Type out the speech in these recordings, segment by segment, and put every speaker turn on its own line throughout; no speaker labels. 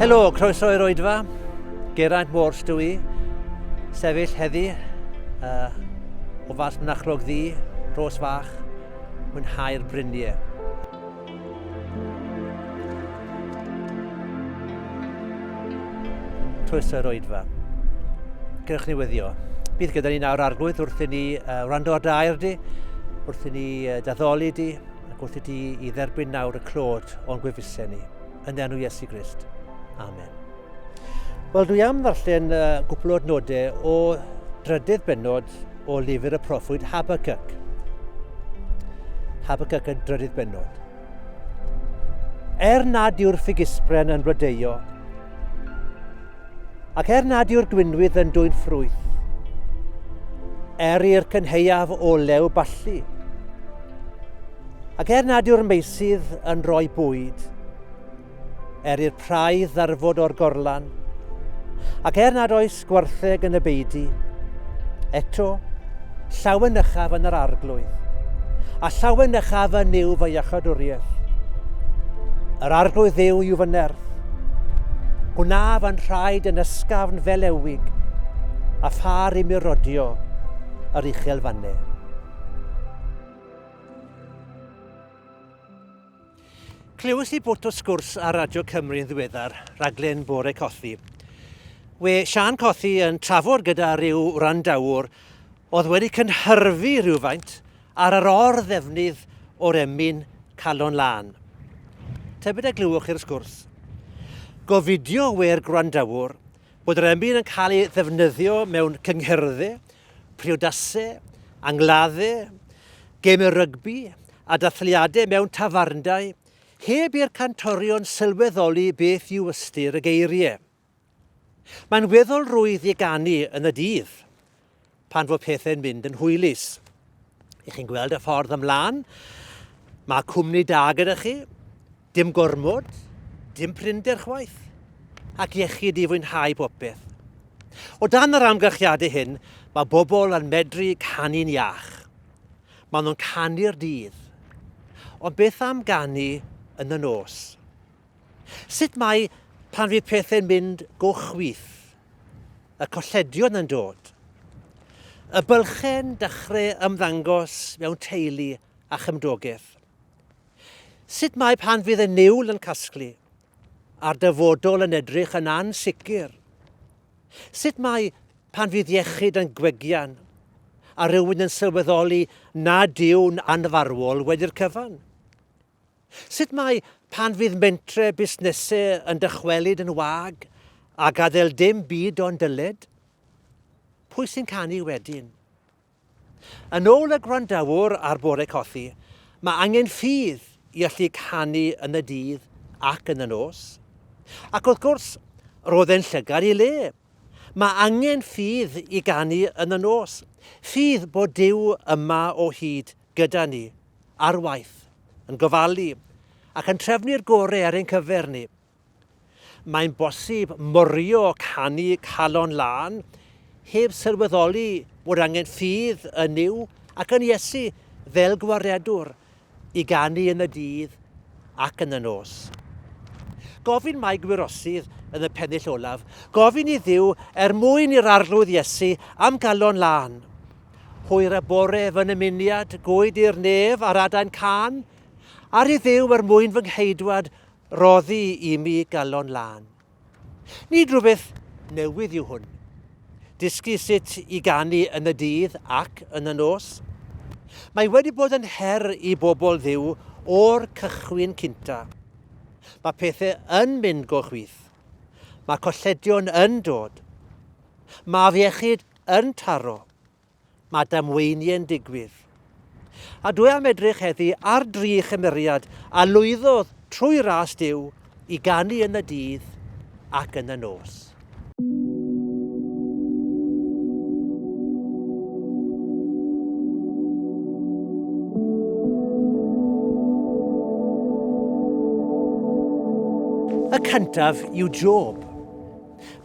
Helo, croeso i'r oedfa. Geraint Walsh dwi i. Sefyll heddi uh, o fas Mynachlog Ddi, Rhos Fach, mwynhau'r briniau. Twys yr oedfa. Gyrwch ni weddio. Bydd gyda ni nawr arglwydd wrth i ni uh, wrando ar dair di, wrth i ni uh, daddoli di, ac wrth i ti i dderbyn nawr y clod o'n gwefusau ni. Yn enw Iesu Grist. Amen. Wel, dwi am ddarllen uh, gwpl o adnodau o drydydd benod o lyfr y proffwyd Habacuc. Habacuc y drydydd benod. Er nad yw'r ffigisbren yn blodeio, ac er nad yw'r gwynwydd yn dwy'n ffrwyth, er i'r cynheuaf olew ballu, ac er nad yw'r meisydd yn rhoi bwyd, Er i'r praidd ddarfod o'r gorlan, ac er nad oes gwartheg yn y beidi, eto, llawen ychaf yn yr arglwydd, a llawen ychaf yn yw fy iachadwriaeth. Yr arglwydd ddew yw fy nerth, gwna fy nhraed yn ysgafn fel ewig, a phar i mi rodio yr uchel fanne. Clywais i bwt o sgwrs ar Radio Cymru yn ddiweddar, rhaglen Bore Cothi. We Sian Cothi yn trafod gyda rhyw wrandawr oedd wedi cynhyrfu rhywfaint ar yr or-ddefnydd o'r emyn calon lân. Tybed a glywwch i'r sgwrs? Gofidio we'r gwrandawr bod yr emyn yn cael ei ddefnyddio mewn cynghyrddau, priodasau, angladdau, gemau rygbi a dathliadau mewn tafarndai, heb i'r cantorion sylweddoli beth yw ystyr y geiriau. Mae'n weddol rwydd i ganu yn y dydd, pan fo pethau'n mynd yn hwylus. I chi'n gweld y ffordd ymlaen, mae cwmni da gyda chi, Dim gormod, dim prinder chwaith, ac iechyd i fwynhau popeth. O dan yr amgylchiadau hyn, mae bobl yn medru canu'n iach. Mae nhw'n canu'r dydd. Ond beth am ganu yn y nos? Sut mae pan fydd pethau'n mynd go chwith? Y colledion yn dod. Y bylchen dechrau ymddangos mewn teulu a chymdogaeth. Sut mae pan fydd y niwl yn casglu, a'r dyfodol yn edrych yn ansicr? Sut mae pan fydd iechyd yn gwegian, a rhywun yn sylweddoli nad yw'n anfarwol wedi'r cyfan? Sut mae pan fydd mentre busnesau yn dychwelyd yn wag a gadael dim byd ond dyled? Pwy sy'n canu wedyn? Yn ôl y gwrandawr ar Bore Cothi, mae angen ffydd i allu canu yn y dydd ac yn y nos. Ac wrth gwrs, roedd e'n llygad i le. Mae angen ffydd i ganu yn y nos, ffydd bod Duw yma o hyd gyda ni, ar waith, yn gofalu, ac yn trefnu'r gore ar ein cyfer ni. Mae'n bosib morio canu calon lân heb sylweddoli bod angen ffydd yn Nuw ac yn Iesu fel gwaredwr i ganu yn y dydd ac yn y nos. Gofyn mae gwirosydd yn y pennill olaf, gofyn i Dduw er mwyn i'r arglwydd Iesu am galon lân. Hwyr y bore fy nymuniad, gwyd i'r nef ar adain can, ar i Dduw er mwyn fy ngheidwad, Rhoddi i mi galon lân. Nid rhywbeth newydd yw hwn. Dysgu sut i ganu yn y dydd ac yn y nos. Mae wedi bod yn her i bobl Dduw o'r cychwyn cynta. Mae pethau yn mynd go chwith. Mae colledion yn dod. Mae afiechyd yn taro. Mae damweiniau'n digwydd. A dwi am edrych heddi ar dri chymeriad a lwyddodd trwy ras Duw i ganu yn y dydd ac yn y nos. Y cyntaf yw Job.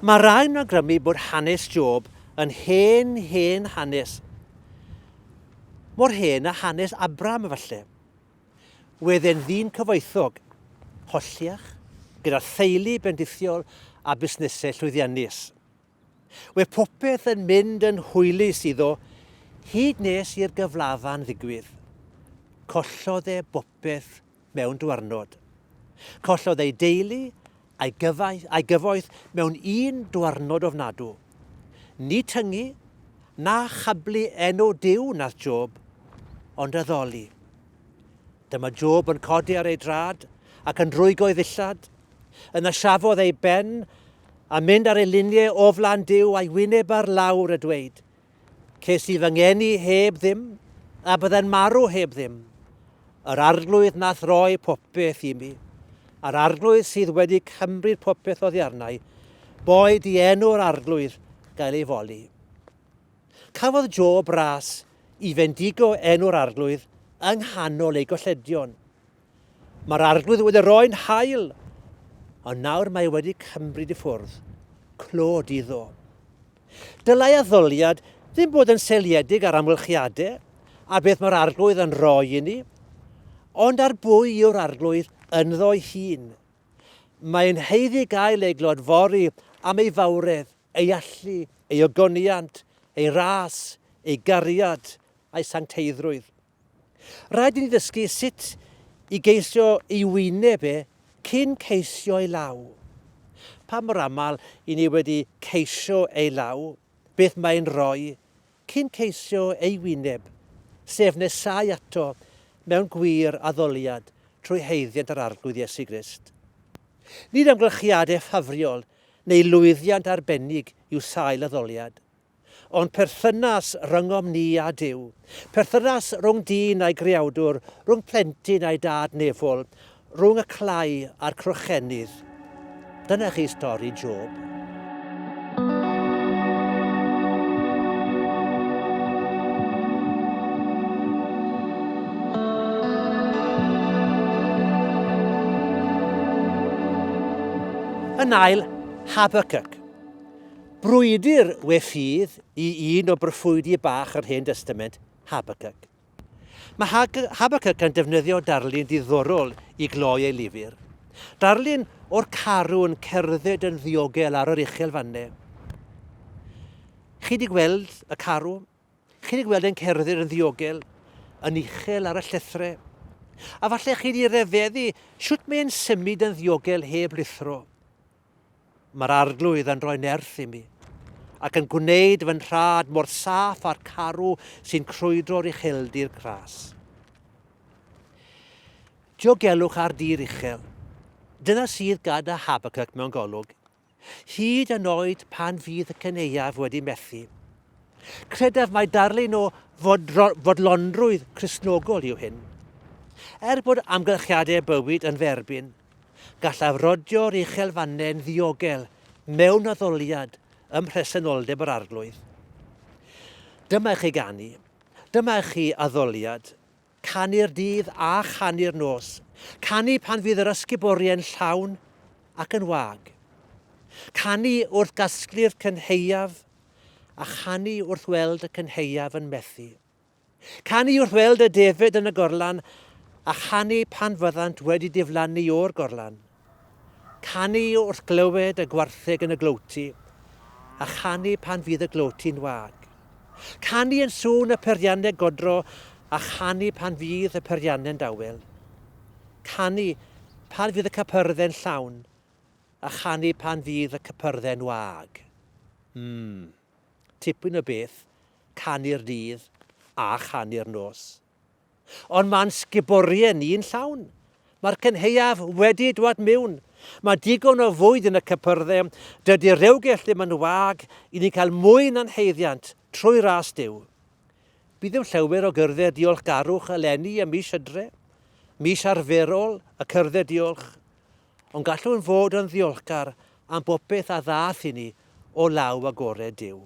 Mae rhai'n awgrymu bod hanes Job Yn hen, hen hanes. Mor hen a hanes Abram efallai. Wedd e'n ddyn cyfoethog, holliach, gyda theulu bendithiol a busnesau llwyddiannus. Wedd popeth yn mynd yn hwylus iddo, hyd nes i'r gyflafan ddigwydd. Collodd e bopeth mewn dwarnod. Collodd ei deulu a'i gyfaith, a'i gyfoeth mewn un dwarnod ofnadw. Ni tyngu, na chablu enw Dyw nath Job, ond addoli. Dyma Job yn codi ar ei drad ac yn rwygo ei ddillad. Yna siafodd ei ben a mynd ar ei luniau o flan Dyw a'i wyneb ar lawr a dweud, Ces i fy ngeni heb ddim, a bydden marw heb ddim. Yr arglwydd nath roi popeth i mi, a'r arglwydd sydd wedi cymryd popeth oddi arnau, boed i enw'r arglwydd gael ei foli. Cafodd Job ras i fendigo enw'r arglwydd yng nghanol ei golledion. Mae'r arglwydd wedi rhoi'n hael, ond nawr mae wedi cymryd i ffwrdd. Clod iddo. Dylai addoliad ddim bod yn seiliedig ar amgylchiadau a beth mae'r arglwydd yn rhoi i ni, ond ar bwy yw'r arglwydd ynddo'i hun. Mae'n heiddi gael ei glodfori am ei fawredd, ei allu, ei ogoniant, ei ras, ei gariad, a'i sancteiddrwydd. Rhaid i ni ddysgu sut i geisio ei wyneb e cyn ceisio ei law. Pa mor aml i ni wedi ceisio ei law, beth mae'n rhoi, cyn ceisio ei wyneb, sef nesáu ato mewn gwir addoliad trwy haeddiant yr Arglwydd Iesu Grist. Nid amgylchiadau ffafriol neu lwyddiant arbennig yw sail addoliad. O'n perthynas rhyngom ni a Duw, perthynas rhwng dyn a'i greawdwr, rhwng plentyn a'i dad nefol, rhwng y clai a'r crochennydd. Dyna chi stori Job. Yn ail, Habacuc. Brwydr we ffydd i un o broffwydi bach yr Hen Destament, Habacuc. Mae Habacuc yn defnyddio darlun diddorol i gloi ei lyfr. Darlun o'r carw'n cerdded yn ddiogel ar yr uchel fanne. Chi wedi gweld y carw? Chi wedi gweld e'n cerdded yn ddiogel, yn uchel ar y llethrau? A falle chi wedi refeddu sut mae'n symud yn ddiogel heb lithro. Mae'r Arglwydd yn rhoi nerth i mi, ac yn gwneud fy nhraed mor saff â'r carw sy'n crwydro'r ucheldir gras. Diogelwch ar dir uchel. Dyna sydd gada Habacuc mewn golwg, hyd yn oed pan fydd y cyneuaf wedi methu. Credaf mai darlun o fodlonrwydd Cresnogol yw hyn. Er bod amgylchiadau bywyd yn dderbyn, Gallaf rodio'r uchelfannau'n ddiogel mewn addoliad ym mhresenoldeb yr Arglwydd. Dyma i chi ganu, dyma i chi addoliad, canu'r dydd a chanu'r nos, canu pan fydd yr ysguboriau'n llawn ac yn wag, canu wrth gasglu'r cynheuaf a chanu wrth weld y cynheuaf yn methu. Canu wrth weld y defaid yn y gorlan a chanu pan fyddant wedi diflannu o'r gorlan. Canu wrth glywed y gwartheg yn y glowti a chanu pan fydd y glowti'n wag. Canu yn sŵn y peirianneg godro a chanu pan fydd y peirianne'n dawel. Canu pan fydd y capyrdde'n llawn a chanu pan fydd y capyrdde'n wag. Mmm. Tipyn o beth, canu'r dydd a chanu'r nos. Ond mae'n sguboriau ni'n llawn. Mae'r cynheuaf wedi dwad miwn. Mae digon o fwyd yn y cypyrdde. Dydy rewgell ddim yn wag i ni cael mwy na'n haeddiant trwy ras Duw. Bydd yn llawer o gyrdded diolchgarwch eleni ym mis Hydre, mis arferol y cyrdded diolch. Ond gallwn fod yn ddiolchgar am bopeth a ddaeth i ni o law agored Duw.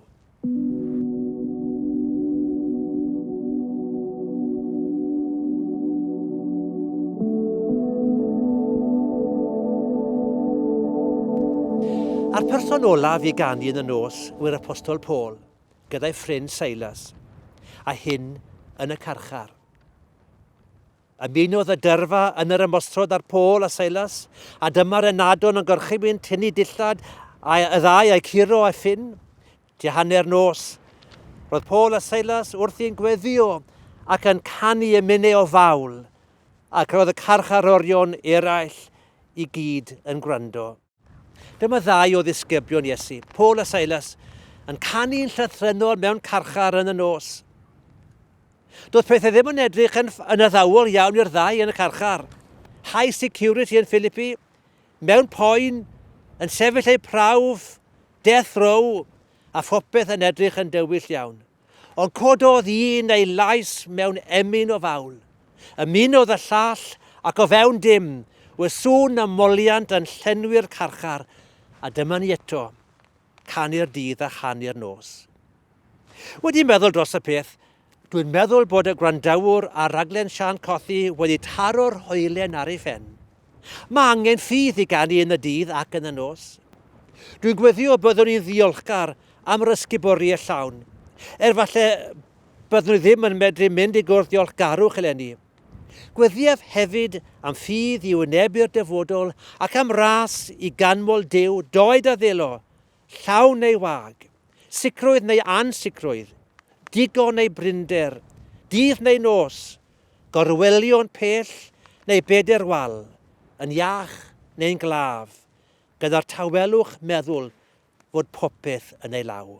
A'r person olaf i ganu yn y nos yw'r apostol Paul, gyda'i ffrind Silas, a hyn yn y carchar. Ymunodd y dyrfa yn yr ymosrhod ar Paul a Silas, a dyma'r ynadon yn gorchymyn tynnu dillad a y ddau a'i curo a ffyn. Tua hanner nos, roedd Paul a Silas wrth i'n gweddio ac yn canu y mynau o fawl, ac roedd y carcharorion eraill i gyd yn gwrando. Dyma ddau o ddisgyblion Iesu, Paul a Silas, yn canu'n llythrennol mewn carchar yn y nos. Doedd pethau ddim yn edrych yn, yn addawol iawn i'r ddau yn y carchar. High security yn Philippi, mewn poen, yn sefyll eu prawf, death row, a phopeth yn edrych yn dywyll iawn. Ond cododd un ei lais mewn emyn o fawl. Ymunodd y llall, ac o fewn dim, y sŵn a moliant yn llenwi'r carchar, a dyma ni eto, canu'r dydd a chanu'r nos. Wedi meddwl dros y peth, dwi'n meddwl bod y gwrandawr ar raglen Sian Cothi wedi taro'r hoelen ar ei phen. Mae angen ffydd i ganu yn y dydd ac yn y nos. Dwi'n gweddio byddwn i'n ddiolchgar am yr ysguboriaeth llawn, er falle byddwn i ddim yn medru mynd i gwrdd diolchgarwch eleni. Gweddiaf hefyd am ffydd i wynebu'r dyfodol ac am ras i ganmol Duw, doed a ddelo, Llaw neu wag. Sicrwydd neu ansicrwydd. Digon neu brinder. Dydd neu nos. Gorwelio'n pell neu beder wal. Yn iach neu'n glaf. Gyda'r tawelwch meddwl fod popeth yn ei law.